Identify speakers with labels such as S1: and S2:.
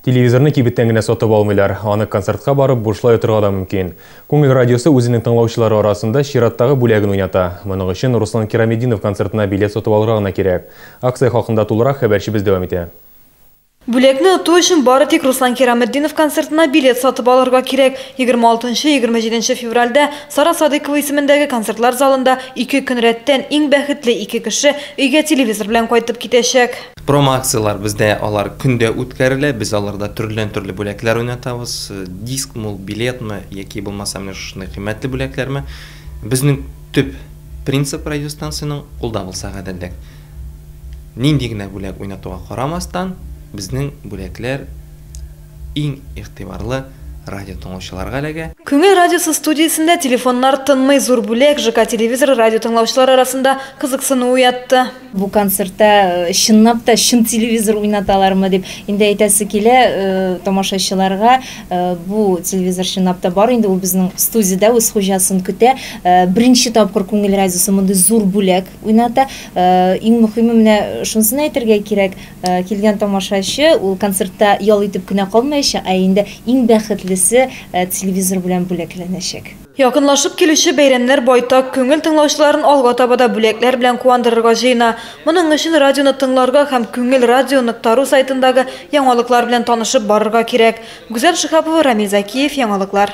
S1: Телевизорны кибеттән генә сатып алмыйлар, аны концертка барып бушлай отырга да мөмкин. Күңел радиосы үзенең тыңлаучылары арасында чираттагы бүләген уйната. Моның өчен Руслан Кираметдинов концертына билет сатып алырга гына кирәк. Акция хакында тулырак хәбәрчебез дәвам итә. Бүләкне
S2: оту өчен бары тик Руслан Кираметдинов концертына билет сатып алырга кирәк. Егерме алтынчы, егерме җиденче февральдә Сара Садыйкова исемендәге концертлар залында ике көн рәттән иң бәхетле ике кеше өйгә телевизор белән кайтып китәчәк. Промо-акцияләр
S3: бездә алар көн дә үткәрелә. Без аларда төрледән-төрле бүләкләр уйнатабыз. Дискмы ул, билетмы яки булмаса менә шушындый кыйммәтле бүләкләрме. Безнең төп принцип радиостанциянең, ул да булса гаделлек. Нинди генә бүләк уйнатуга карамастан, безнең бүләкләр иң игътибарлы радиотыңлаучыларга эләгә. Күңел радиосы
S2: студиясендә телефоннар тынмый, зур бүләк, ЖК телевизоры радиотыңлаучылар арасында кызыксыну уятты. Бу концертта
S4: чынлап та чын телевизор уйнаталармы дип инде әйтәсе килә тамашачыларга. Бу телевизор чынлап та бар инде, ул безнең студиядә үз хуҗасын көтә. Беренче тапкыр Күңел радиосы мондый зур бүләк уйната. Иң мөхиме менә шунысын әйтергә кирәк, килгән тамашачы ул концертта ял итеп кенә калмаячак, ә инде иң бәхетлесе телевизор белән бүләкләнәчәк. Якынлашып килүче
S2: бәйрәмнәр байтак күңел тыңлаучыларын алга таба да бүләкләр белән куандырырга җыена. Моның өчен радионы тыңларга һәм Күңел радио нокта ру сайтындагы яңалыклар белән танышып барырга кирәк. Гүзәл Шиһапова, Рамил Зәкиев, Яңалыклар.